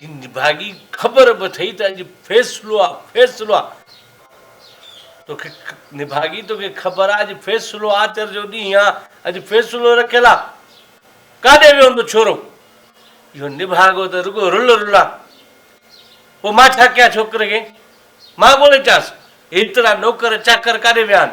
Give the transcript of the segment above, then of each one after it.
جي نڀاڳي خبر به اٿئي ته اڄ فيصلو آ فيصلو آ توکي نڀاڳي توکي خبر آ اڄ فيصلو آچر جو ڏينهن آ اڄ فيصلو رکيل آ ڪاڏي ويو هوندو ڇورو اهو نڀاڳو ته رڳو رل رلا پوء مان ڇا ڪيان ڇوڪري کي مان ڪونه اچانس ايترا نوڪر چاڪر ڪاڏي ويا آهن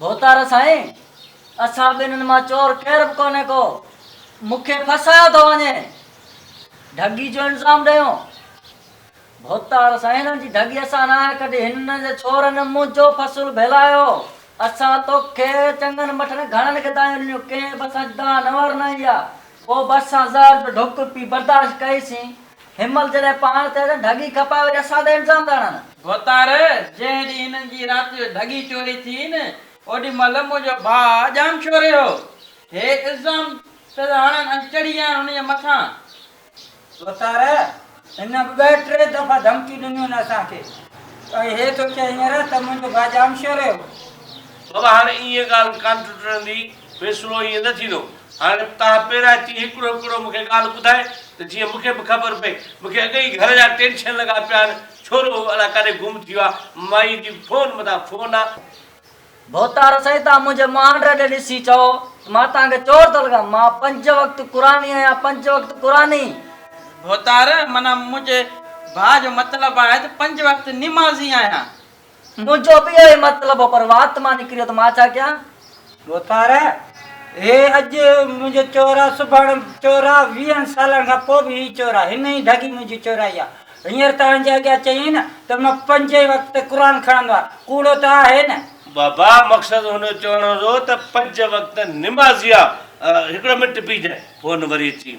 ڀوتار سائين! اسان ٻنهن مان چور ڪير به ڪونهي ڪو، مون کي ڦاسايو ٿو وڃي. ڍڳي جو الزام ڏيو. ڀوتار سائين! هنن جي ڍڳي اسان ناهي ڪڍي، هنن جي ڇورن منهنجو فصل ڀيلايو. اسان توکي چڱن مٺن گهڻن کي دانهيون ڏنيون، ڪنهن به اسان جي دانهن نه ورنائي آ. پوء به اسان زهر جو ڍوڪ پي برداشت ڪئي سين. هن مهل جڏهن پاڻ ٿيا ٿين ڍڳي کپائي وري اسان تي الزام ٿا هڻن. ڀوتار، جنهن ڏينهن هنن جي رات جو ڍڳي چوري ٿي نه اوڏي مهل منهنجو ڀاء ڄام شوري هو. هي الزام پيا ٿا هڻن ۽ چڙهي ويا آهن هن جي مٿان. ڀوتار، هن ٻه ٽي دفعا ڌمڪيون ڏنيون آهن اسان کي ۽ هي ٿو چئي هينئر ته منهنجو ڀاء ڄام شوري هو. بابا هاڻي ايئن ڳالهه ڪانه ٽٽندي. فيصلو ائين نه ٿيندو. هاڻي تان پيرائتي هڪڙو هڪڙو مون کي ڳالهه ٻڌائي ته جيئن مون کي به خبر پئي. مون کي اڳ ئي گهر جا ٽينشن لڳا پيا آهن. ڇورو هو الاء ڪاڏي گم ٿي ويو آهي. مائيء جي فون مٿان فون آ. ڀوتار سائين تان منهنجي مهانڊ ڏي ڏسي چئو ته مان تان کي چور ٿو لڳان. مان پنج وقت قرآني آهيان پنج وقت قرآني. ڀوتار معنيٰ منهنجي ڀاء جو مطلب آهي ته پنج وقت نمازي آهيان. منهنجو به اهو ئي مطلب هو، پر وات مان نڪريو ته مان ڇا ڪيان؟ ڀوتار، هي اڄ منهنجو چور آ، سڀاڻ چور آ، ويهن سالن کان پوء به هي چور آ، هن ئي ڍڳي منهنجي چورائي آ. هينئر توهان جي اڳيان چيائين نه ته مان پنجين وقت قرآن کڻندو آهيان، ڪوڙو ته آهي نه؟ بابا، مقصد هن جو چوڻ هو ته پنج وقت نمازي آ، هڪڙو منٽ بيهجانء، فون وري اچي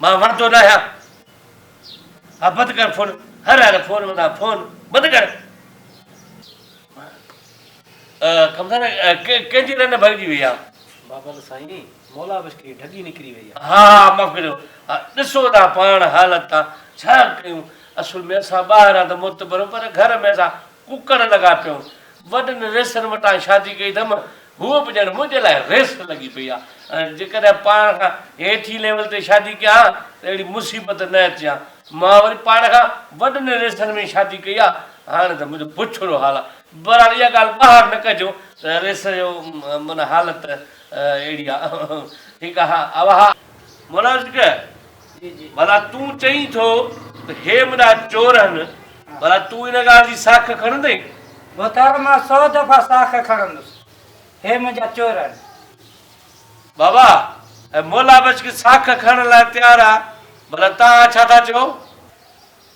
مان وڻندو ناهيان ها بند ڪر فون هر هر فون مان ٿا فون بند ڪر ڪمزار ڪنهن جي رن ڀڳجي وئي آ بابا ته سائين مولا بس کي ڍڳي نڪري وئي آ ها ها معاف ڪريو ڏسو ته پاڻ حالت ٿا ڇا ڪيون اصل ۾ اسان ٻاهر آ ته معتبر پر گهر ۾ اسان ڪڪڙ لڳا پيو. وڏن ريسن وٽان شادي ڪئي اٿم. هوء به ڄڻ منهنجي لاء ريس لڳي پئي آ. جيڪڏهن پاڻ کان هيٺين ليول تي شادي ڪيان ها ته اهڙي مصيبت نه اچي ها. مان وري پاڻ کان وڏن ريسن ۾ ئي شادي ڪئي آ. هاڻي ته منهنجو بڇڙو حال آ. بهرحال اها ڳالهه ٻاهر نه ڪجو ته ريس جو معنيٰ حالت اهڙي آ. ٺيڪ آ. اوهان. مناسڪ، ڀلا تون چئين ٿو ته هي منهنجا چور آهن، ڀلا تون ان ڳالهه جي ساک کڻندين؟ بوتار مان سؤ دفعا ساک کڻندس، هي منهنجا چور آهن. بابا ۽ مولا بخش کي ساک کڻڻ لاء تيار آ، ڀلا توهان ڇا ٿا چئو؟